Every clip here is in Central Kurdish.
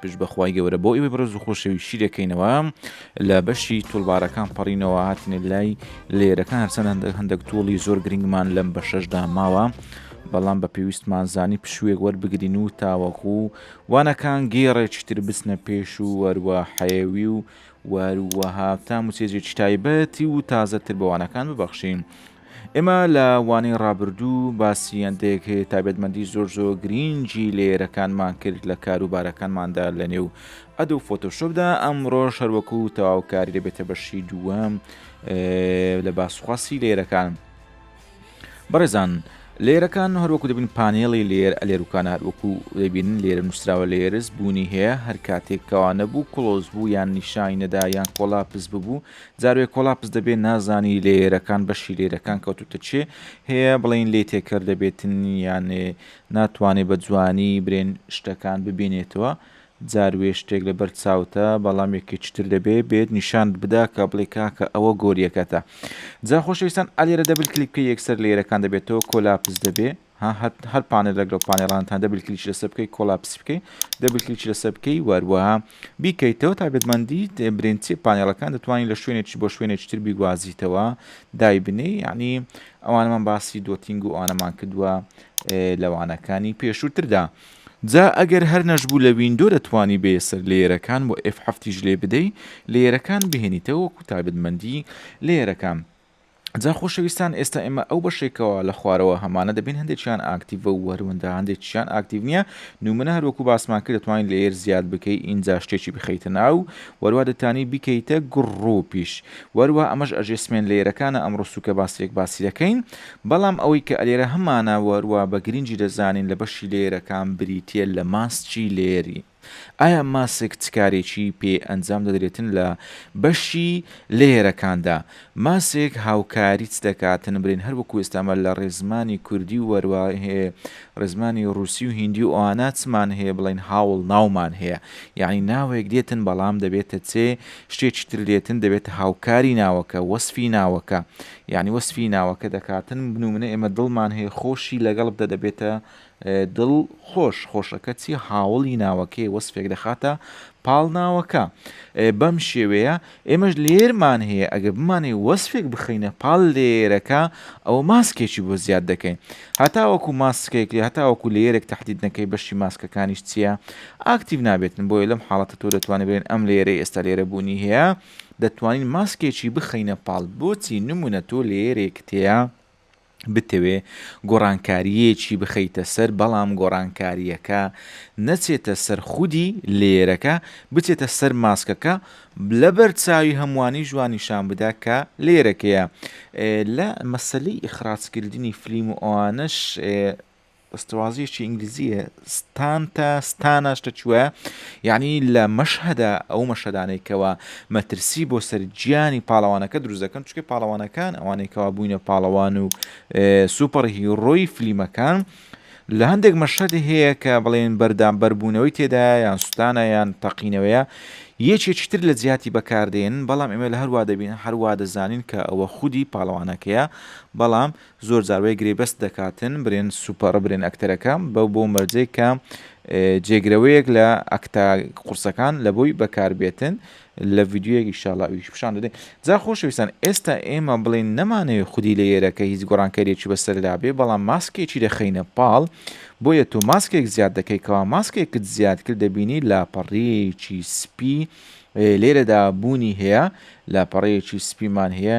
پشت بە خوای گەورە بۆ ئێوەی بەڕێز و خۆشەوی شیرەکەینەوە لە بەشی توڵبارەکان پەڕینەوە هاتنێ لای لێرەکان هەرچەند هەندێک هەندێک توڵی زۆر گرنگمان لەم بە شەشدا ماوە بەڵام بە پێویستمان زانی پشوێک وەربگرین و تاوەکو و وانەکان گێڕێکیتر بچنە پێش و وەروە حەیەوی و وەروەها تام و سێزێکی تایبەتی و تازەتر بەوانەکان ببەخشین ئێمە لە وانەی ڕابردوو باسی هەندێک تایبەتمەندی زۆر زۆر گرینگی لێرەکانمان کرد لە کاروبارەکانماندا لە نێو ئەدە و فۆتۆشۆپدا ئەمڕۆ شەروەکو و تەواوکاری دەبێتە بەشی دووەم لە باسخواسی لێرەکان بەڕێزان لێرەکان هەروەکو دەبین پانێڵی لێر ئەلێروکان هەروەکو دەبین لێرە نووسراوە لێرز بوونی هەیە هەر کاتێکەوە نەبوو کلۆز بوو یان نیشای نەدا یان کۆلاپس ببوو جاروێ کۆلاپس دەبێ نازانی لەیەرەکان بەشی لەیرەکان کەوتوتە چێ هەیە بڵین لێ تێکەر دەبێتن یان ناتوانێ بە جوانی برێن شتەکان ببینێتەوە جاروێ شتێک لەبەر چاوتە بەڵام یەکێکی تر دەبێ بێت نیشانت بدا کە بڵێ کاکە ئەوە گۆریەکەتە جا خۆشەویستان ئالێرە دەبل کلیک بکە یەکسەر لەیرەکان دەبێتەوە کۆلاپس دەبێ ها هەت هەر پانێلێک لەو پانێڵانتان دەبل کلیچ لەسەر بکەی کۆلاپسی بکەی دەبل کلیچ لەسەر بکەی وەروەها بیکەیتەوە تابێتمەندی برنجی پانێڵەکان دەتوانین لە شوێنێکی بۆ شوێنێکی تر بیگوازیتەوە دایبنی یعنی ئەوانەمان باسی دۆتینگ و ئەوانەمان کردووە لەوانەکانی پێشووتردا. جا ئەگەر هەر نەشبوو لە ویندۆ دەتوانی بێ سەر لێرەکان و F7 ژلێ بدەی لێرەکان بهێنیتەوە وەکو تابێتمەندی لێرەکان. جا خۆشەویستان ئێستا ئێمە ئەو بەشەی کەوا لە خوارەوە هەمانە دەبین هەندێکیان ئاکتیڤە و هەروەندا هەندێکیان ئاکتیڤ نییە نومنە هەروەکو باسمان کرد دەتوانین لەیەر زیاد بکەی ئینجا شتێکی بخەیتە ناو وەروا دەتانی بیکەیتە گڕوپیش وەروا ئەمەش ئەژێسمێن لەیەرەکانە ئەمڕۆ سوکە باسێک باسی دەکەین بەڵام ئەوەی کە ئەلێرە هەمانە وەروا بە گرنگی دەزانین لە بەشی لەیەرەکان بریتیە لە ماسکی لێری ئایا ماسک چ کارێکی پێ ئەنجام دەدرێتن لە بەشی لەیەرەکاندا؟ ماسک هاوکاری چ دەکاتن برێن هەر وەکو ئێستا مە لە ڕێزمانی کوردی و وەروا هێ ڕێزمانی ڕووسی و هیندی و ئەوانە چمان هێ بڵێن هاوڵ ناومان هێە یەعنی ناوێک دێتن بەڵام دەبێتە چێ شتێکی تر دێتن دەبێتە هاوکاری ناوەکە وەسفی ناوەکە یەعنی وەسفی ناوەکە دەکاتن بنوومنە ئێمە دڵمان هێ خۆشی لەگەڵ بدە دەبێتە دڵ خۆش خۆشە کەچی هاوڵی ناوەکەی وەسفێک دەخاتە پاڵ ناوەکە بەم شێوەیە ئێمەش لێرمان هەیە ئەگەر بمانەی وەسفێک بخەینە پاڵ لێرەکە ئەو ماسکێکی بۆ زیاد دەکەین هەتاوەکو ماسکێک لێ هەتاوەکو لێرێک تهدید نەکەی بەشی ماسکەکانیش چییە ئاکتیو نابێتن بۆیە لەم حاڵەتە تۆ دەتوانێت بێن ئەم لێرە ئێستا لێرە بوونی هەیە دەتوانین ماسکێکی بخەینە پاڵ بۆچی نمونە تۆ لێرێک تێە بتەوێ گۆڕانکارییەکی بخەیتە سەر بەڵام گۆڕانکارییەکە نەچێتە سەر خودی لەیەرەکە بچێتە سەر ماسکەکە لەبەر چاوی هەمووانیش وا نیشان بدا کە لەیەرەکەیە لە مەسەلەی ئیخراجکردنی فلیم و ئەوانەش دەستەوازیەکی ئینگلیزیە ستانتە ستانە شتە چوە یعنی لە مەشهدا ئەو مەشەدانێکەوە مەترسی بۆ سەررجیانی پاڵەوانەکە دروزەکەن چکە پاڵەوانەکان ئەوانێکەوە بووینە پاڵەوان و سوپەر هیڕۆی فلیمەکان لە هەندێک مەشەدی هەیە کە بڵێن بەردام بەربوونەوەی تێدا یان سوستانە یان تەقینەوەیە یەکێکتر لە جیاتی بەکاردێن بەڵام ئێمە لە هەروە دەبین هەروە دەزانین کە ئەوە خودی پاڵەوانەکەیە بەڵام زۆر جار وەی گرێبەست دەکاتن برێن سوپەڕ برێن ئەکتەرەکە بەو بۆ مەرجەی کە جێگرەوەیەک لە ئەکتا قورسەکان لە بۆی بەکاربێتن لە ڤیددیوەکی شاڵا ئیش پیشان دەدەین جا خۆشەویستان ئێستا ئێمە بڵین نەمانەوێت خودی لە ئێرەکە هیچ گۆڕانکەرێکی بەسەردا بێ بەڵام ماسکێکی دەخینە پاڵ بۆیە تۆ ماسکێک زیاد دەکەیتەوە ماسکێکت زیاد کرد دەبینی لاپەڕەیەکی سپی لێرەدا بوونی هەیە لاپەڕەیەکی سپیمان هەیە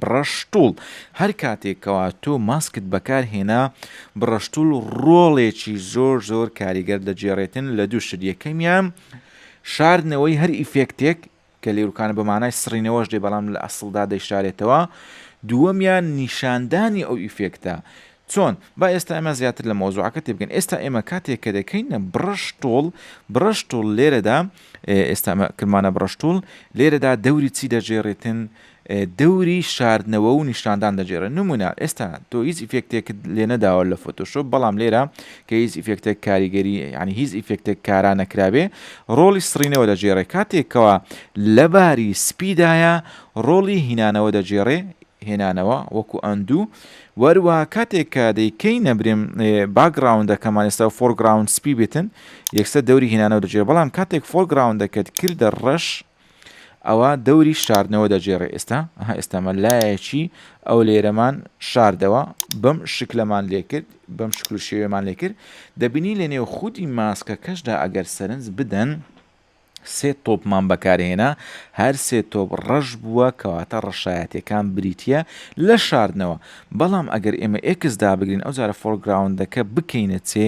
بڕەشتوڵ، هەر کاتێک کەوا تۆ ماسکت بەکار هێنا، بڕەشتوڵ ڕۆڵێکی زۆر زۆر کاریگەر دەگێڕێتن لە دوو شت، یەکەمیان شاردنەوەی هەر ئیفێکتێک، کە لێروکانە بە مانای سڕینەوەش دێ بەڵام لە ئەسڵدا دەیشارێتەوە، دووەمیان نیشاندانی ئەو ئیفێکتە، چۆن؟ با ئێستا ئێمە زیاتر لە مەوزوعەکە تێبگەین، ئێستا ئێمە کاتێک کە دەکەینە بڕەشتوڵ، بڕەشتوڵ لێرەدا، ئێستا ئەمە کردمانە بڕەشتوڵ، لێرەدا دەوری چی دەگێڕیتن؟ دەوری شاردنەوە و نیشاندان دەگێڕن، نموونە ئێستا تۆ هیچ ئیفێکتێکت لێ نەداوە لە فۆتۆشۆپ، بەڵام لێرە کە هیچ ئیفێکتێک کاریگەری یانی هیچ ئیفێکتێک کارا نەکرابێ، ڕۆڵی سڕینەوە دەگێڕێ، کاتێک کەوا لە باری سپیدایە، ڕۆڵی هینانەوە دەگێڕێ، هێنانەوە، وەکوو ئەندوو، وەروا کاتێک کە دەیکەینە برێم باکگراوندەکەمان ئێستا فۆرگراوند سپی بێتن یەکسەر دەوری هێنانەوە دەجێ بەڵام کاتێک فۆرگراوندەکەت کردە ڕەش ئەوە دەوری شاردنەوە دەجێڕێ ئێستا ها ئێستامە لایەکی ئەو لێرەمان شاردەوە بەم شکلەمان لێکرد بەم شکل و شێوێمان لێکرد دەبینی لە نێو خودی ماسکە کەشدا ئەگەر سەرنج بدەن سێ تۆپمان بەکارهێنا، هەر سێ تۆپ ڕەش بووە، کەواتە ڕەشایەتییەکان بریتییە لە شاردنەوە. بەڵام ئەگەر ئێمە ئێکس دابگرین، ئەوجارە فۆرگراوندەکە بکەینە چێ،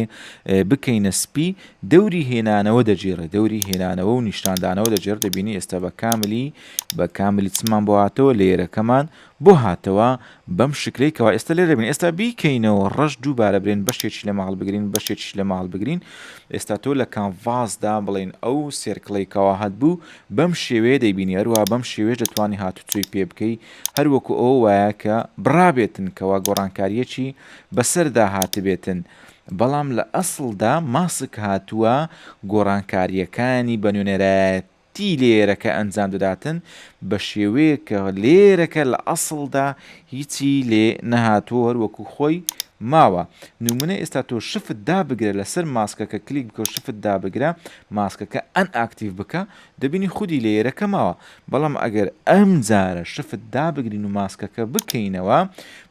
بکەینە سپی، دەوری هێنانەوە دەگێڕێ، دەوری هێنانەوە و نیشاندانەوە دەگێڕێ، دەبینی ئێستا بە کاملی، بە کاملی چمان بۆ هاتەوە، لەیەرەکەمان، بۆ هاتەوە بەم شکلەی کەوا ئێستا لێرە بین ئێستا بیکەینەوە ڕەش دووبارە برێن بەشێکی لە ماڵ بگرین بەشێکیش لە ماڵ بگرین ئێستا تۆ لە کانڤاسدا بڵین ئەو سێرکڵی کەوا هەت بوو بەم شێوەیە دەیبینی هەروە بەم شێوێش دەتوانانی هاتوچۆی پێ بکەی هەروەکو ئەو وایە کە بڕابێتن کەوا گۆڕانکاریەکی بەسەردا هاتبێتن بەڵام لە ئەسڵدا ماسک هاتووە گۆڕانکاریەکانی بە نوێنەرایەت تی لێیەرەکە ئەنجام دەداتن بە شێوەیەک کە لێیەرەکە لە ئەسڵدا هیچی لێ نەهاتووە هەر وەکوو خۆی ماوە نموونە ئێستا تۆ شفت دابگرە لەسەر ماسکەکە کلیک بکە و شفت دابگرە ماسکەکە ئەن ئاکتیڤ بکە دەبینی خودی لێیەرەکە ماوە بەڵام ئەگەر ئەم جارە شفت دابگرین و ماسکەکە بکەینەوە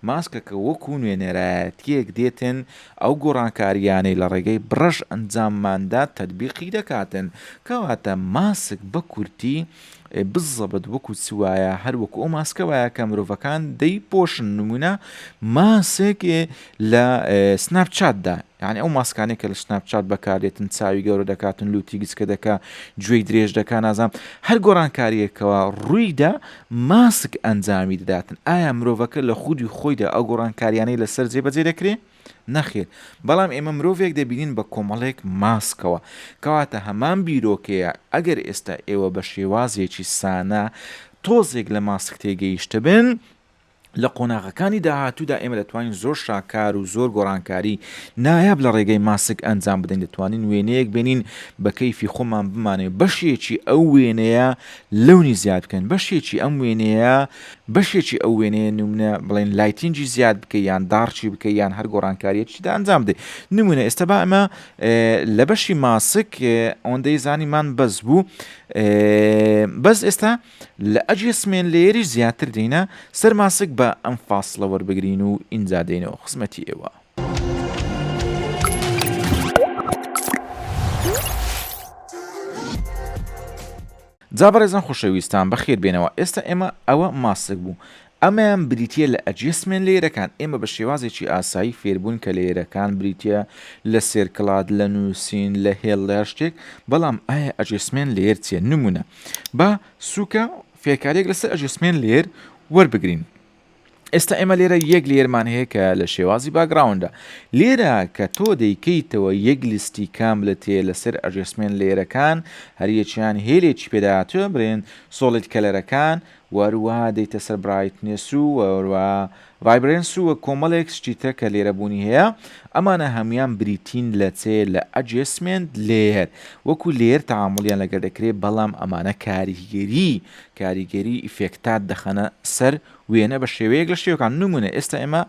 ماسکەکە وەکوو نوێنەرایەتیەک دێتن ئەو گۆڕانکارییانەی لە ڕێگەی بڕەش ئەنجامماندا تەتبیقی دەکاتن. کەواتە ماسک بە کورتی، بالضبط، وەکو چ وایە، هەر وەکو ئەو ماسکە وایە کە مرۆڤەکان دەیپۆشن، نموونە ماسک لە سناپ چاتدا، یانی ئەو ماسکانەی کە لە سناپ چات بەکار دێتن، چاوی گەورە دەکاتن، لووتی گچکە دەکا، گوێی درێژ دەکا، نازانم، هەر گۆڕانکارییەک کەوا ڕووی دا، ماسک ئەنجامی دەداتن، ئایا مرۆڤەکە لە خودی خۆیدا ئەو گۆڕانکارییانەی لەسەر جێبەجێ دەکرێت؟ نەخێر، بەڵام ئێمە مرۆڤێک دەبینین بە کۆمەڵێک ماسکەوە. کەواتە هەمان بیرۆکەیە، ئەگەر ئێستا ئێوە بە شێوازێکی سانا تۆزێک لە ماسک تێگەیشتبن، لە قۆناغەکانی داهاتوودا ئێمە دەتوانین زۆر شاکار و زۆر گۆڕانکاری نایاب لە ڕێگەی ماسک ئەنجام بدەین دەتوانین وێنەیەک بێنین بە کەیفی خۆمان بمانێ بەشێکی ئەو وێنەیە لەونی زیاد بکەین بەشێکی ئەم وێنەیە بەشێکی ئەو وێنەیە نمونە بڵێن لایتینجی زیاد بکە یان داڕچی بکە یان هەر گۆڕانکاریەتیدا ئەنجام بدەین نمونە ئێستا با ئەمە لە بەشی ماسک ئەوەندەی زانیمان بەس بوو بەس ئێستا لە ئەژێ سمێن لەیەریش زیاتر دێینە سەر ماسک با ئەم فاسڵە وەربگرین و ئینجا دێینەوە خزمەتی ئێوە. جا بەڕێزان خۆشەویستان بەخێر بێنەوە ئێستا ئێمە ئەوە ماسک بوو ئەمەیان بریتییە لە ئەدجەستمێنت لەیرەکان، ئێمە بە شێوازێکی ئاسایی فێربووین کە لەیرەکان بریتییە لە سێرکڵات، لە نووسین، لە هێڵ لە هەر شتێک، بەڵام ئایا ئەدجەستمێنت لەیەر چییە؟ نموونە، با سووکە فێرکارییەک لەسەر ئەدجەستمێنت لەیەر وەربگرین. ئێستا ئێمە لێرە یەک لەیەرمان هەیە کە لە شێوازی باکگراوندە. لێرە کە تۆ دەیکەیتەوە یەک لیستی کاملت هەیە لەسەر ئەدجەستمێنت لەیەرەکان، هەریەکەیان هێلێکی پێداهاتووە، برێن سۆڵید کەلەرەکان، وهەروەها دێیتە سەر برایتنێس و وهەروەها ڤایبرێنس و وە کۆمەڵێک شتی تر کە لێرە بوونی هەیە ئەمانە هەموویان بریتین لە چێ لە ئەجێسمێنت لێیەر وەکو لێیەر تەعامولیان لەگەر دەکرێ بەڵام ئەمانە کاریگەری کاریگەری ئیفێکتات دەخەنە سەر وێنە بە شێوەیەک لە شێوەکان نمونە ئێستا ئێمە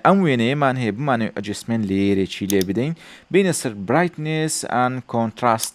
ئەم وێنەیەمان هەیە بمانێ ئەجێسمێنت لێیەرێکی لێ بدەین بینە سەر برایتنێس ئان کۆنتراست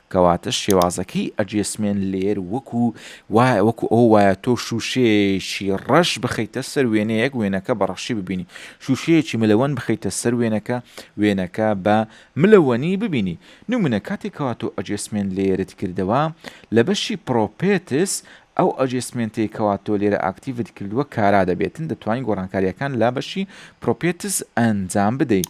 کەواتە شێوازەکەی ئەجێسمێنت لەیەر وەکو وایە وەکو ئەوە وایە تۆ شووشەیەکی ڕەش بخەیتە سەر وێنەیەک وێنەکە بە ڕەشی ببینی شووشەیەکی ملەوەن بخەیتە سەر وێنەکە وێنەکە بە ملەوەنی ببینی نمونە کاتێک کەوا تۆ ئەجێسمێنت لەیەرت کردەوە لە بەشی پڕۆپێتس ئەو ئەجێسمێنتەی کەوا تۆ لێرە ئاکتیڤت کردووە کارا دەبێتن دەتوانین گۆڕانکارییەکان لە بەشی پڕۆپێتس ئەنجام بدەیت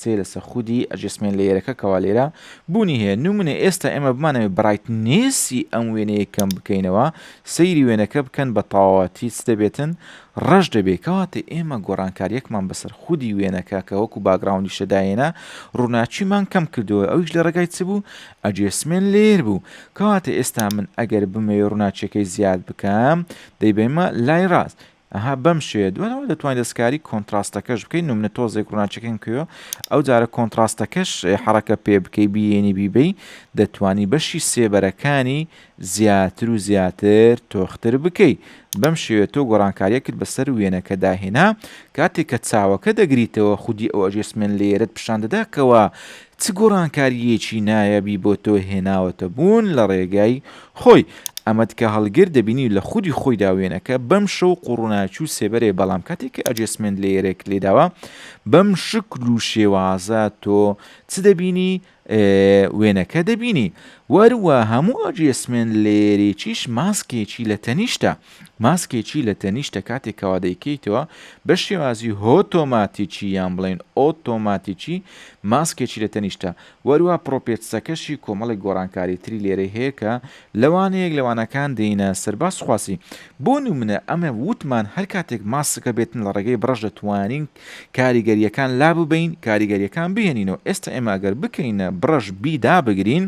چێ لەسە خودی ئەجێسمێنت لەیەرەکە کەوا لێرە بوونی هەیە نمونە ئێستا ئێمە بمانەوێت بڕایتنێسی ئەم وێنەیە کەم بکەینەوە سەیری وێنەکە بکەن بە تەواوەتی چ دەبێتن ڕەش دەبێت کەواتە ئێمە گۆڕانکاریەکمان بەسەر خودی وێنەکە کە وەکو باگراوندی شەدایێنە ڕووناچیمان کەم کردەوە ئەویش لە ڕێگای چ بوو ئەجێسمێن لێر بوو کەواتە ئێستا من ئەگەر بمەوێ ڕووناچیەکەی زیاد بکەم دەیبەیمە لای ڕاست ئەها بەم شێوەیە دواتر دەتوانی دەستکاری کۆنتراستەکەش بکەی نمونە تۆزێک ڕووناکیەکەم کردوە ئەو جارە کۆنتراستەکەش حەڕەکە پێ بکەی بیێنی بیبەی دەتوانی بەشی سێبەرەکانی زیاتر و زیاتر تۆختر بکەی بەم شێوێت تۆ گۆڕانکاریەکت بەسەر وێنەکە داهێنا کاتێک کە چاوەکە دەگریتەوە خودی ئەو ئەژێسمێن لێرت پیشان دەدا کەەوە چ گۆڕانکارییەکی نایابی بۆ تۆ هێناوەتە بوون لە ڕێگای خۆی؟ ئەمەت کە هەڵگر دەبینی لە خودی خۆیدا وێنەکە بەم شەو قوڕناکی و سێبەرەیە بەڵام کاتێک کە ئەجێسمێنت لەیەرێک لێداوە بەم شکل و شێوازە تۆ چ دەبینی وێنەکە دەبینی وەروە هەموو ئەجێسمێنت لەیەرێکیش ماسکێکی لە تەنیشتە ماسکێکی لە تەنیشتە کاتێک کەوا دەیکەیتەوە، بە شێوازی هۆتۆماتیکی یان بڵێین ئۆتۆماتیکی ماسکێکی لە تەنیشتە. وەروا پڕۆپێتسەکەشی کۆمەڵێک گۆڕانکاری تری لێرەی هەیە کە لە وانەیەک لە وانەکان دێینە سەر باس خواسی. بۆ نمونە ئەمە ووتمان هەر کاتێک ماسکەکە بێتن لە ڕێگەی بڕەش دەتوانین کاریگەریەکان لاببەین کاریگەریەکان بهێنینەوە ئێستا ئێمە ئەگەر بکەینە بڕەش بی دابگرین،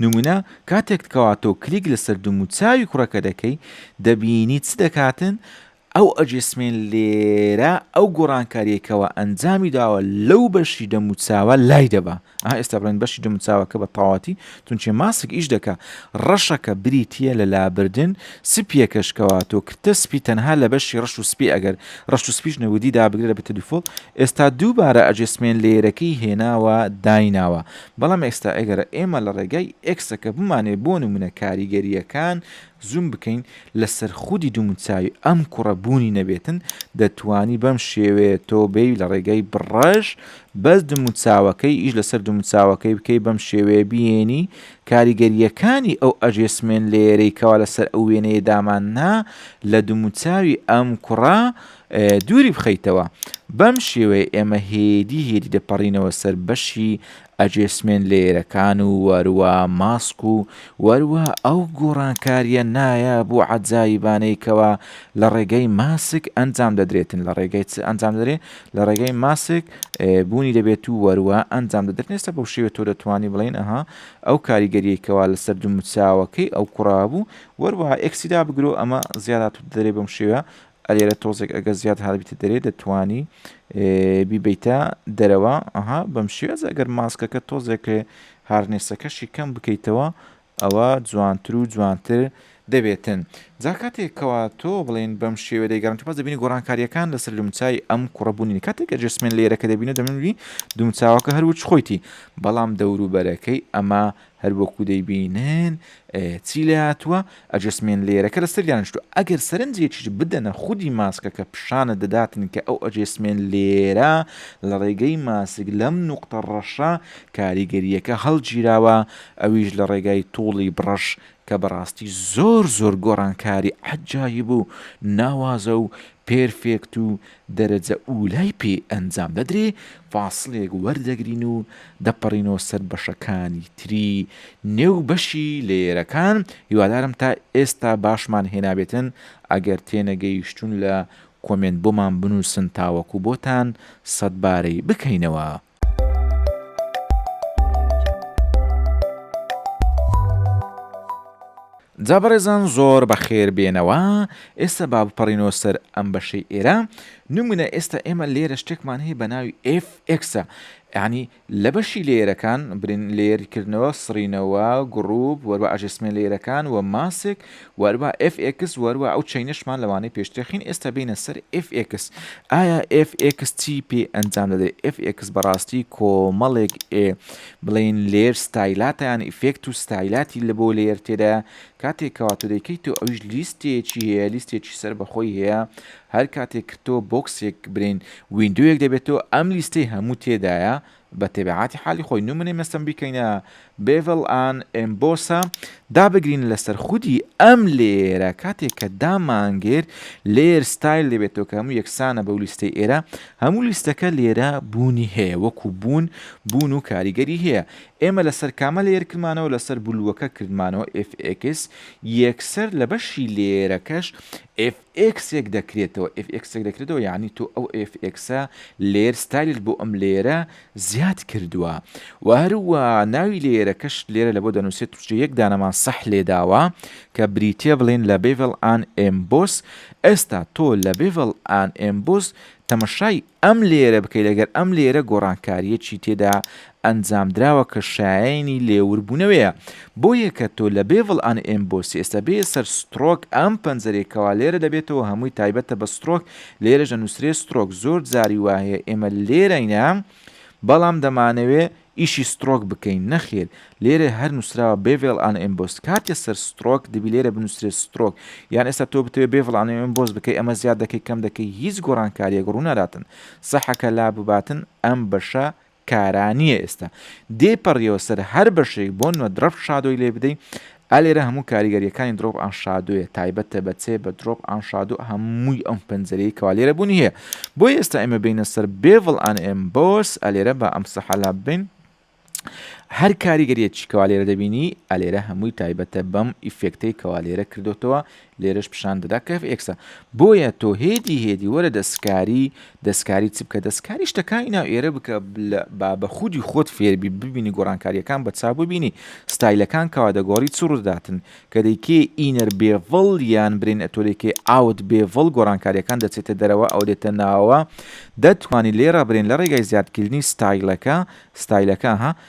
نمونە کاتێک کەواتۆ کلیک لەسەر دوم و چاوی کوڕەکە دەکەی دەبینی چ دەکاتن ئەو ئەجسمێن لێرە ئەو گۆڕانکاریەکەوە ئەنجامی داوە لەو بەشی دەموچاوە لای دەبا ئا ئێستا بڵێن بەشی دەموچاوەکە بە تەواتی تونچێ ماسک ئیش دەکە ڕەشەکە بریتە لە لابردن سپیەکەشکەوە تۆ کردە سپی تەنها لە بەشی ڕەش و سپی ئەگەر ڕەش و سپیش نەودی دابگرە بە تەلیفۆل ئێستا دووبارە ئەجسمێن لێرەکەی هێناوە دایناوە بەڵام ئێستا ئەگەر ئێمە لە ڕێگای ئێکسەکە بمانەوێت بۆ نموونە کاریگەرییەکان زووم بکەین لەسەر خودی دووموچاوی ئەم کوڕە بوونی نەبێتن دەتوانی بەم شێوەیە تۆ بێی لە ڕێگای بڕەش بەس دووموچاوەکەی ئیش لەسەر دووموچاوەکەی بکەی بەم شێوەیە بیێنی کاریگەرییەکانی ئەو ئەژێسمێن لێیەرەی کەوا لەسەر ئەو وێنەیە داماننا لە دووموچاوی ئەم کوڕە دووری بخەیتەوە. بەم شێوەیە ئێمە هێدی هێدی دەپەڕینەوە سەر بەشی ئەجێسمێن لەیەرەکان و وەروە ماسک و وەروە ئەو گۆڕانکاریە نایاب و عەجایبانەیکەوە لە ڕێگەی ماسک ئەنجام دەدرێتن لە ڕێگەی چ ئەنجام دەرێ لە ڕێگەی ماسک بوونی دەبێت و وەروە ئەنجام دەدرێت نێستا بەو شێوە تۆ دەتوانانی بڵێن ئەها ئەو کاریگەریەکەوە لەسەر دوو مچاوەکەی ئەو کوڕابوو وەروە ئەکسیدا بگرۆ ئەمە زیادات دەرێ بەم شێوە ئەلێرە تۆزێک ئەگەر زیاد هەڵبیتە دەرێ دەتوانی بیبیتە دەرەوە ئەها بەم شێز ئەگەر ماسکەکە تۆزێک هارنێسەکەشی کەم بکەیتەوە ئەوە جوانتر و جوانتر دەبێتن جا کاتێکەوە تۆ بڵێن بەم شێوە دەیگەڕن پاس دەبینی گۆڕانکاریەکان لەسەر لومچای ئەم کوڕبوونی کاتێکە جسمێن لێرەکە دەبینە دەمنوی دومچاوەکە هەروچ خۆیتی بەڵام دەوروبەرەکەی ئەمە هەر وەکو دەیبینن چی لێهاتووە ئەجەسمێنت لەیەرەکە لە سەریان نیشتووە ئەگەر سەرنجێکیش بدەنە خودی ماسکەکە پیشانت دەداتن کە ئەو ئەجێسمێنت لێیەرە لە ڕێگەی ماسک لەم نوقتە ڕەشە کاریگەرییەکە هەڵگیراوە ئەویش لە ڕێگای توڵی بڕەش کە بەڕاستی زۆر زۆر گۆڕانکاری عەجایب و ناوازە و پێرفێکت و دەرەجە ئوولای پێ ئەنجام دەدرێ، فاسڵێک وەردەگرین و دەپەڕینەوە سەر بەشەکانی تری نێو بەشی لەیەرەکان، هیوادارم تا ئێستا باشمان هێنابێتن، ئەگەر تێنەگەیشتون لە کۆمێنت بۆمان بنووسن تاوەکو بۆتان سەدبارەی بکەینەوە. جا بەڕێزان زۆر بەخێر بێنەوە ئێستا با بپەڕینەوە سەر ئەم بەشەی ئێرە نمونە ئێستا ئێمە لێرە شتێکمان هەیە بە ناوی FXە ینی لە بەشی لێرەکان برین لێرکردنەوە سڕینەوە گڕوب وەروە ئاژێسمێن لێرەکان و ماسێک وهەروەها ئێف ئێکس وهەروەها ئەو چەینەشمان لەوانەیە پێشترخین ئێستا بێینە سەر ئێف ئێکس ئایا ئێف ئێکس چی پێ ئەنجام دەدرێت ئێف ئێکس بەڕاستی کۆمەڵێک ئێ بڵێن لێر ستایلاتیان ئیفێکت و ستایلاتی لە بۆ لێر تێدا کاتێک کەواتۆ دەیکەیت تۆ ئەویش لیستێکی هەیە لیستێکی سەر بەخۆی هەیە هەر کاتێک کردۆ بۆکسێک برین وینندوەک دەبێتەوە ئەم لیستەی هەموو تێدایە بە تەبیعاتی حالی خۆی نومنەی مەستم بیکەینە بێڤڵ ئان ئێمبۆسە دابگرین لەسەر خودی ئەم لێرە کاتێک کە دامانگێر لێر ستایل دەبێتەوە کە هەموو یەکسانە بەو لیستەی ئێرە هەموو لیستەکە لێرە بوونی هەیە وەکو بوون بوون و کاریگەری هەیە ئێمە لەسەر کامە لێر کردمانەوە لەسەر بلووەکە کردمانەوە FX یەکسەر لە بەشی لێرەکەش ئێکسێک دەکرێتەوە fx ێک دەکرێتەوە یەعنی تۆ ئەو fxە لەیەر ستایلت بۆ ئەم لەیەرە زیاد کردوە وە هەروا ناوی لەیەرەکەشت لێرە لەبۆ دەنوسێت چونکە یەک دانەمان سەح لێداوە کە بریتیە بڵێن لە Bevel and Emboss ئێستا تۆ لە Bevel and Emboss تەمەشای ئەم لێیەرە بکەی لەگەر ئەم لێیەرە گۆڕانکاریەکی تێدا ئەنجامدراوە کە شایەنی لێور بونەوەیە بۆیە کە تۆ لە بێڤڵ ئەن ئێمبۆسی ئێستا بێیە سەر سترۆک ئەم پەنجەرەی کەوا لێرە دەبێتەوە هەمووی تایبەتە بە سترۆک لێرەش دەنوسرێ سترۆک زۆر جاری وایە ئێمە لێرەینە بەڵام دەمانەوێ ئیشی سترۆک بکەین نەخیر لێرە هەر نوسراوە بێڤێڵ ئان ئێمبۆس کاتێ سەر سترۆک دەبی لێرە بنوسرێ سترۆک یان ئێستا تۆ بتەوێ بێڤڵ ئان ئێمبۆس بکەی ئەمە زیاد دەکەی کەم دەکەی هیچ گۆڕانکاریەک ڕوناداتن سەحەکە لابباتن ئەم بەشە کارا نیە ئێستا دێ پەڕیەوە سەر هەر بەشێک بۆ نۆدڕەفت شادۆی لێ بدەی ئا لێرە هەموو کاریگەریەکانی دڕۆپ ئان شادۆیە تایبەتە بە چێ بە دڕۆپ ئان شادۆ هەمووی ئەم پەنجەرەیەی کەوا لێرە بوونی هەیە بۆیە ئێستا ئێمە بێینە سەر بێڤڵ ئان ئێم بۆرس ئا لێرە با ئەم سەحەلا بین هەر کاریگەریەکی کەوا لێرە دەبینی ئا لێرە هەمووی تایبەتە بەم ئیفێکتەی کەوا لێرە کردوتەوە لێرەش پیشان دەدا کە ئێکسە بۆیە تۆ هێدی هێدی وەرە دەستکاری دەستکاری چ بکە دەستکاری شتەکانی ناو ئێرە بکە با بە خودی خۆت فێربی ببینی گۆڕانکاریەکان بە چا ببینی ستایلەکان کەوا دەگۆڕی چ ڕووداتن کە دەیکێ ئینەر بێڤڵ یان برین ئەتۆلێکێ ئاوت بێڤڵ گۆڕانکاریەکان دەچێتە دەرەوە ئەو دێتە ناوە دەتوانانی لێ ڕابرێن لە ڕێگای زیادکردنی ستایلەکە ستایلەکە ها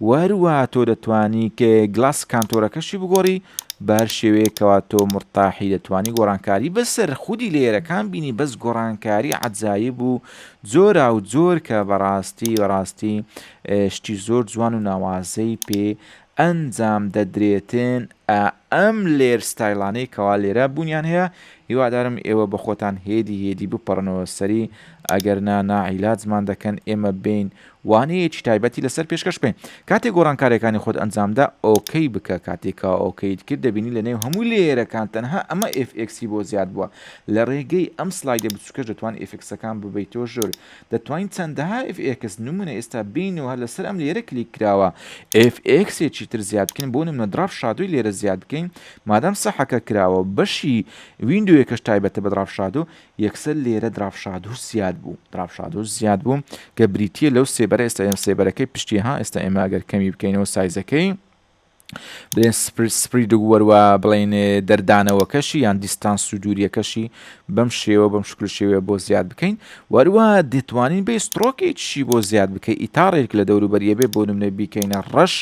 وهروها تۆ دەتوانی کە گلاس کانتۆرەکەشی بگۆڕی بەهەر شێوەیەک کەوا تۆ مورتاحی دەتوانی گۆڕانکاری بەسەر خودی لەیەرەکان بینی بەس گۆڕانکاری عەجایب و جۆراو جۆر کە بەڕاستی بەڕاستی شتی زۆر جوان و ناوازەی پێ ئەنجام دەدرێتن ئە ئەم لێر ستایلانەی کەوا لێرە بونیان هەیە هیوادارم ئێوە بەخۆتان هێدی هێدی بپەڕنەوە سەری ئەگەر نا ناعیلاجمان دەکەن ئێمە بێین وانەیەکی تایبەتی لەسەر پێشکەش بکەین کاتێ گۆڕانکاریەکانی خۆت ئەنجامدا ئۆکەی بکە کاتێ کا ئۆکەیت کرد دەبینی لە نێو هەموو لێیەرەکان تەنها ئەمە ئێفئێکسی بۆ زیاد بووە لە ڕێگەی ئەم سلایدە بچووکەش دەتوان ئێفکسەکان ببەیتۆ ژۆر دەتوانین چەندەها ئێفئێکس نمونە ئێستا بینەوە هەر لەسەر ئەم لێرە کلیک کراوە ئێفئێکسێکی تر زیاد بکەین بۆ نمونە دراپ شادوی لێرە زیاد بکەین مادام سەحەکە کراوە بەشی ویندوێکەش تایبەتە بە دراپ شادو یەکسەر لێرە دراڤشادهوش زیاد بوو، Dravshadhush، زیاد بوو، کە بریتییە لەو سێبەرە، ئێستا ئێمە سێبەرەکەی پشتی ها، ئێستا ئێمە ئەگەر کەمی بکەینەوە سایزەکەی، بڵێن سپریدگ وەر وا بڵێن دەردانەوەکەشی یان دیستانس و دووریەکەشی بەم شێوە بەم شکل شێوەیە بۆ زیاد بکەین وەروە دەتوانین بێ سترۆکێکشی بۆ زیاد بکەی ئیتاڕێک لە دەوروبەریە بێ بۆ نمونە بیکەینە ڕەش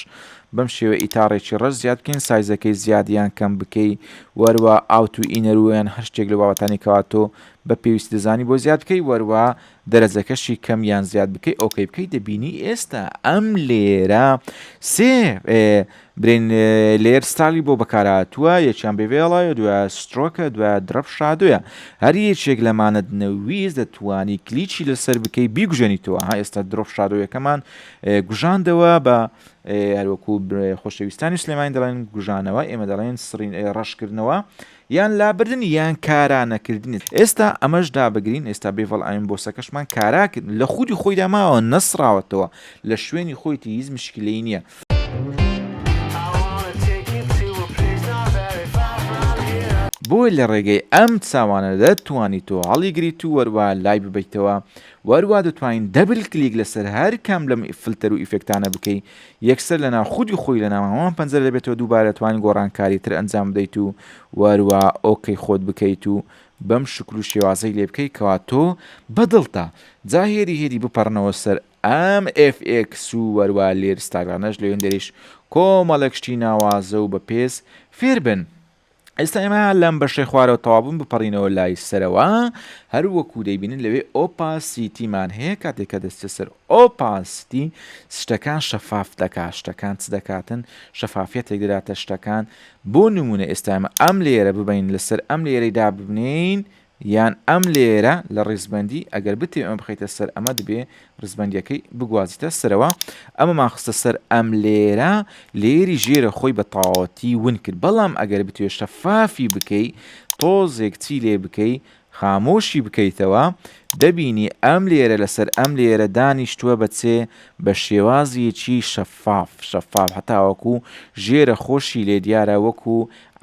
بەم شێوەیە ئیتاڕێکی ڕەش زیاد بکەین سایزەکەی زیاد یان کەم بکەی وەروا ئاوت و ئینەرو یان هەر شتێک لەو بابەتانەی کەوا تۆ بە پێویستی دەزانی بۆ زیاد بکەی وەروا دەرەجەکەشی کەم یان زیاد بکەی ئۆکەی بکەی دەبینی ئێستا ئەم لێرە سێ برێن لێر ستالی بۆ بەکارهاتووە یەکیان بێوێڵایە دوای سترۆکە دوای درەپ شادوە هەر یەکێک لەمانەت نەویست دەتوانی کلیچی لەسەر بکەی بیگوژێنیتەوە ها ئێستا درۆپ شادۆیەکەمان گوژاندەوە بە هەروەکو خۆشەویستانی سلێمانی دەڵێن گوژانەوە، ئێمە دەڵێن سڕین، ڕەشکردنەوە یان لابردن یان کارا نەکردنی. ئێستا ئەمەش دابگرین، ئێستا بێڤەڵ ئاین بۆسەکەشمان کارا کرد، لە خودی خۆیدا ماوە، نەسڕاوەتەوە، لە شوێنی خۆیەتی، هیچ مشکیلەی نییە. بۆیە لە ڕێگەی ئەم چاوانە دەتوانیت تۆ هەڵیگریت و وەروا لای ببەیتەوە وەروا دەتوانین دەبل کلیک لەسەر هەر کام لەم فلتەر و ئیفێکتانە بکەی یەکسەر لەناو خودی خۆی لەناو هەمان پەنجەرە دەبێتەوە دووبارە دەتوانین گۆڕانکاری تر ئەنجام بدەیت و وەروا ئۆکەی خۆت بکەیت و بەم شکل و شێوازەی لێ بکەی کەوا تۆ بە دڵتە جا هێدی هێدی بپەڕنەوە سەر ئەم ئێف ئێکس و وەروا لێر ستاگانەش لەوێندەریش کۆمەڵێک شتی ناوازە و بە پێز فێربن. ئێستا ئێمە لەم بەشەی خوارەوە تەوابوون بپەڕینەوە لای سەرەوە هەر وەکو دەیبینن لەوێ ئۆپا سیتیمان هەیە کاتێک کە دەستە سەر ئۆپا سیتی شتەکان شەفاف دەکا شتەکان چ دەکاتن شەفافەتێک دەداتە شتەکان بۆ نمونە ئێستامە ئەم لێرە ببین لەسەر ئەم لێرەیدا ببنین یان ئەم لێیەرە لە ڕیزبەندی، ئەگەر بتەوێ ئەمە بخەیتە سەر ئەمە دەبێ ڕیزبەندیەکەی بگوازیتە سەرەوە، ئەمەمان خستە سەر ئەم لێیەرە، لێیەری ژێرە خۆی بە تەواوەتی ون کرد، بەڵام ئەگەر بتوێ شەفافی بکەی تۆزێک چی لێ بکەی خامۆشی بکەیتەوە دەبینی ئەم لێیەرە لەسەر ئەم لێیەرە دانیشتوە بە چێ بە شێوازیکی شەفاف. شەفاف شەفاف هەتاوەکو ژێرە خۆشی لێ دیارە وەکو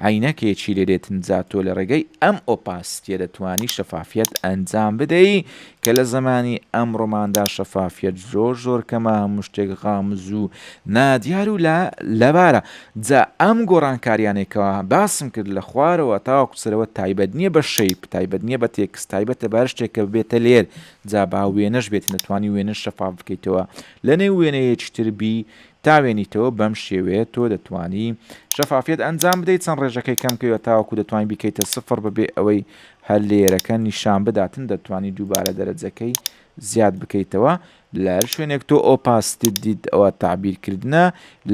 عەینەکێکی لێ دێت ئینجا تۆ لە ڕێگەی ئەم ئۆپاسیتیە دەتوانی شەفافیەت ئەنجام بدەی کە لە زەمانی ئەمڕۆماندا شەفافیەت زۆر زۆر کەمە هەموو شتێک غامز و نادیار و لە لەبارە جا ئەم گۆڕانکاریانێکەوە باسم کرد لە خوارەوە تاوەکو سەرەوە تایبەت نییە بە شەیپ تایبەت نییە بە تێکس تایبەتە بەر شتێکە بێتە لێر جا با وێنەش بێت نەتوانی وێنە شەفاف بکەیتەوە لەنێو وێنەیەکی تر بی تاوێنیتەوە بەم شێوەیە تۆ دەتوانی شەفافیەت ئەنجام بدەیت چەند ڕێژەکەی کەم کەیوە تاوەکو دەتوانی بیکەیتە سفڕ بەبێ ئەوەی هەر لێیەرەکە نیشان بداتن دەتوانی دووبارە دەرەجەکەی زیاد بکەیتەوە لەهەر شوێنێک تۆ ئۆپاستیت دیت ئەوە تەعبیر کردنە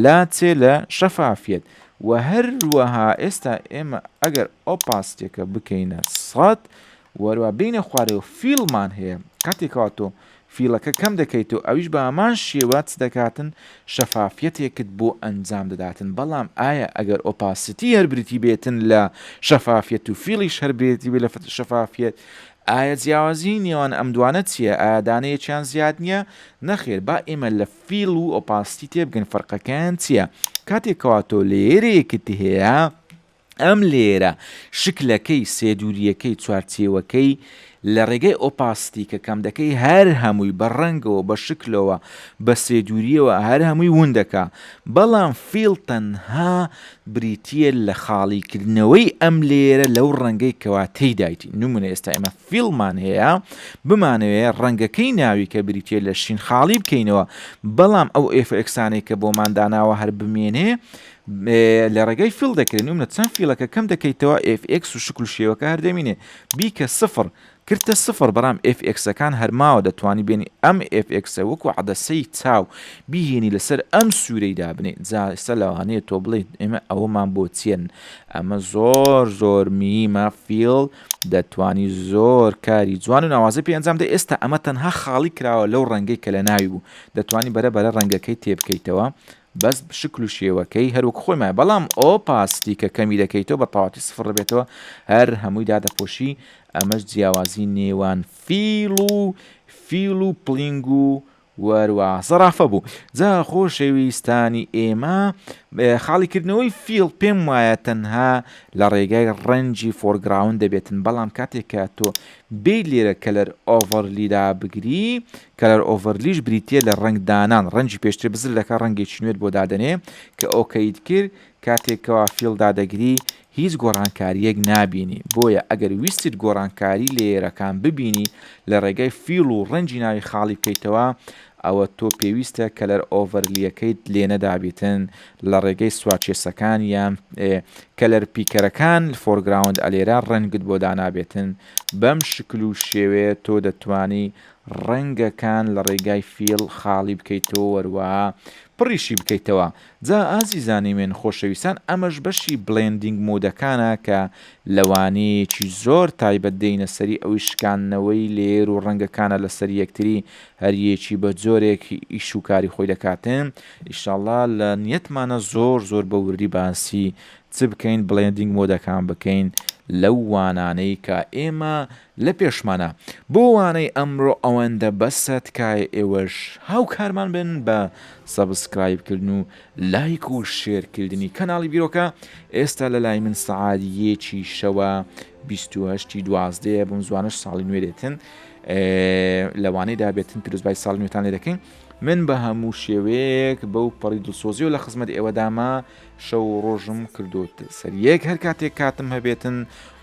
لە چێ لە شەفافیەت وە هەروەها ئێستا ئێمە ئەگەر ئۆپاستیەکە بکەینە سەد وەرە بێینە خوارەوە فیڵمان هەیە کاتێ کەوا تۆ فیڵەکە کەم دەکەیتەوە ئەویش بە هەمان شێوە چ دەکاتن شەفافیەتێکت بۆ ئەنجام دەداتن بەڵام ئایا ئەگەر ئۆپاسیتی هەر بریتی بێتن لە شەفافیەت و فیڵیش هەر برێتی بێ لە شەفافیەت ئایا جیاوازی نێوان ئەم دوانە چییە ئادانەیەکیان زیاد نییە نەخێر با ئێمە لە فیڵ و ئۆپاسیتی تێبگەن فەرقەکەیان چییە کاتێکەوە تۆ لێرەیەکت هەیە ئەم لێرە شکلەکەی، سێدورییەکەی، چوارچێوەکەی، لە ڕێگای ئۆپاستی کە کەم دەکەی هەر هەمووی بە ڕەنگەوە بە شکلەوە بە سێدورییەوە هەر هەمووی ون دەکا بەڵام فیڵ تەنها بریتییە لە خاڵیکردنەوەی ئەم لێرە لەو ڕەنگەی کەوا تێیدایتی نمونە ئێستا ئێمە فیڵمان هەیە بمانەوێ ڕەنگەکەی ناوی کە بریتیە لە شین خاڵی بکەینەوە بەڵام ئەو ئێفئکسانەی کە بۆمان داناوە هەر بمێنێ لە ڕێگەی فیل دەکرێن و منە چەند فیلەکە کەم دەکەیتەوە FX و شکل شێوەکە هەر دەمینێ بیکە سفر کردتە سفر بەرام FXەکان هەرماوە دەتوانی بێنی ئەم FXە وەکو عدەسەی چاو بیهێنی لەسەر ئەم سوورەی دابنێ جاسە لەوانەیە تۆ بڵێت ئێمە ئەوەمان بۆ چێن ئەمە زۆر زۆر میمە فیل دەتوانی زۆر کاری جوان و ناوازەی پێ ئەنجام دە ئێستا ئەمە تەنها خاڵی کراوە لەو ڕەنگەی کە لە ناوی بوو دەتوانی بەرە بەرە ڕەنگەکەی تێبکەیتەوە بەس شکل و شێوەکەی هەروەک خۆیمە بەڵام ئۆ پاستی کە کەمی دەکەیتەوە بە تەواتی سفڕ بێتەوە هەر هەمووی دادەپۆشی ئەمەش جیاوازی نێوان فیڵ و فیڵ و پڵنگ و وەروا زەڕافە بوو. جا خۆشەویستانی ئێمە، خاڵی کردنەوەی فیڵ پێم وایە تەنها لە ڕێگای ڕەنجی فۆرگراوند دەبێتن بەڵام کاتێک کە تۆ بێیت لێرە کەلەر ئۆڤەرلی دابگری کەلەر ئۆڤەرلیش بریتیە لە ڕەنگ دانان ڕەنجی پێشتر بزر دەکا ڕەنگێکی نوێت بۆ دادەنێ کە ئۆکەیت کرد کاتێک کەوا فیڵ دادەگری هیچ گۆڕانکارییەک نابینی بۆیە ئەگەر ویستت گۆڕانکاری لەیەرەکان ببینی لە ڕێگای فیڵ و ڕەنجی ناوی خاڵی بکەیتەوە ئەوە تۆ پێویستە کەلەر ئۆڤەرلیەکەیت لێنەدابیتن لە ڕێگەی سوارچێسەکان یان کەلەر پیکەرەکان فۆرگراوند ئەلێرە ڕەنگت بۆ دانابێتن بەم شکل و شێوێ تۆ دەتوانی ڕەنگەکان لە ڕێگای فیڵ خاڵی بکەیتەوە وەروە پڕیشی بکەیتەوە جا ئازیزانی من خۆشەویستان ئەمەش بەشی بڵێندینگ مودەکانە کە لە وانەیەکی زۆر تایبەت دێینە سەری ئەویش شکاندنەوەی لەیەر و ڕەنگەکانە لە سەر یەکتری هەر یەکی بە جۆرێک ئیش و کاری خۆی دەکاتن ئیشاڵا لە نیەتمانە زۆر زۆر بە وردی باسی چ بکەین بڵێندینگ مودەکان بکەین لەو وانانەی کە ئێمە لە پێشمانە بۆ وانەی ئەمڕۆ ئەوەندە بەسە تکایە ئێوەش هاوکارمان بن بە سەبسکرایب کردن و لایک و شێر کردنی کەناڵی بیرۆکە ئێستا لە لای من سەعات یەکی شەوە 28 دوازدەیە بم زوانش ساڵی نوێ دێتن لەوانەی دابێتن پیرۆزبای ساڵی نوێتان لێ دەکەین من بە هەموو شێوەیەک بەو پەڕی دڵسۆزی و لە خزمەت ئێوەدامە شەو ڕۆژم کردوت سەر یەک هەر کاتێک کاتم هەبێتن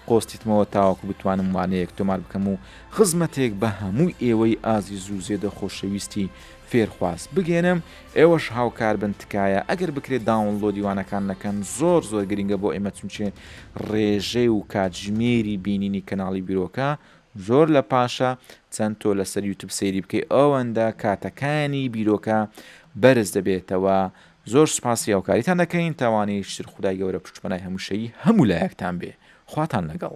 قۆستیتمەوە تاوەکو بتوانم وانەیەک تۆمار بکەم و خزمەتێک بە هەموو ئێوەی ئازیز و زێدە خۆشەویستی فێرخواز بگەێنم، ئێوەش هاوکار بن تکایە ئەگەر بکرێ داونڵۆدی وانەکان نەکەن زۆر زۆر گرینگە بۆ ئێمە چونچێ ڕێژەی و کاتژمێری بینینی کەناڵی بیرۆکە زۆر لە پاشە، چەند تۆ لەسەر یوتوب سەیری بکەی ئەوەندە کاتەکانی بیرۆکە بەرز دەبێتەوە زۆر سوپاسی هاوکاریتان دەکەین تاوانی شتر خودای گەورە پشت پەنای هەموشەیی هەموو لایەکتان بێ خواتان لەگەڵ.